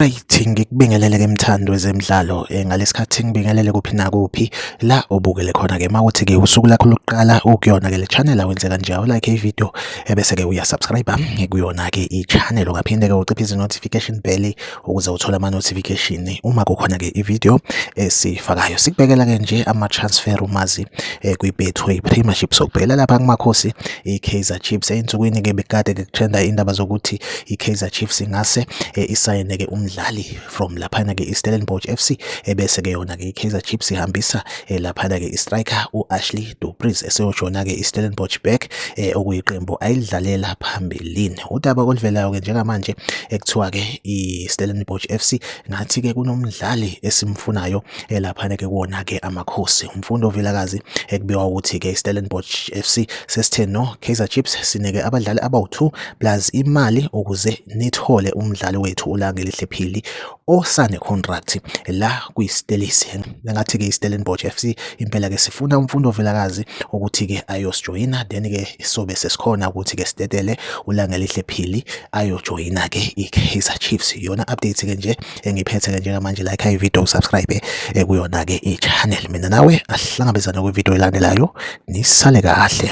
Right ngikubingelele ke mthando wezemidlalo eh, ngalesikhathi ngibingelele kuphi nakuphi la obukele khona ke mawuthi ke usuku lakho lokuqala ukuyona ke le channel awenze kanje u like ivideo ebese eh, ke uya subscribe ngikuyona ke i channel ungaphinde ke uciphe izi notification bell ukuze uthole ama-notification uma kukhona-ke ividiyo esiyifakayo sikubekela-ke nje ama-transfer umazi um eh, kwi-betway premiership sokubhekela lapha kumakhosi i-kaizer chiefs ey'nsukwini-ke bekade-ke kutrenda indaba zokuthi i-kaizer chiefs ingase um isayine-ke umdlali from laphana-ke i-stellenbosch f c ebese-ke yona-ke i-kaizer chiefs ihambisa um laphana-ke i-striker u-ashley dupris eseyojona-ke i-stellenbosch back um okuyiqembu ayilidlalela phambilini Udaba oluvelayo-ke njengamanje ekuthiwa-ke i-Stellenbosch FC ngathi-ke kunomdlali esimfunayo elaphana-ke kuwona-ke amakhosi. Umfundo Vilakazi ekubikwa ukuthi-ke i-Stellenbosch FC sesithe no Kaizer Chiefs sineke abadlali abawu-2 plus imali ukuze nithole umdlali wethu uLangelihle Phili osane contract la kwiStellies ngathi ke iStellenbosch FC impela ke sifuna umfundo velakazi ukuthi ke ayosijoyina then ke isobe sesikhona ukuthi ke sidedele ulangelihle phili ayojoyina ke iKaizer Chiefs yona update ke nje engiphethe ke njengamanje like i video subscribe eh, kuyona ke ichannel mina nawe asihlangabezana kwi video elandelayo nisale kahle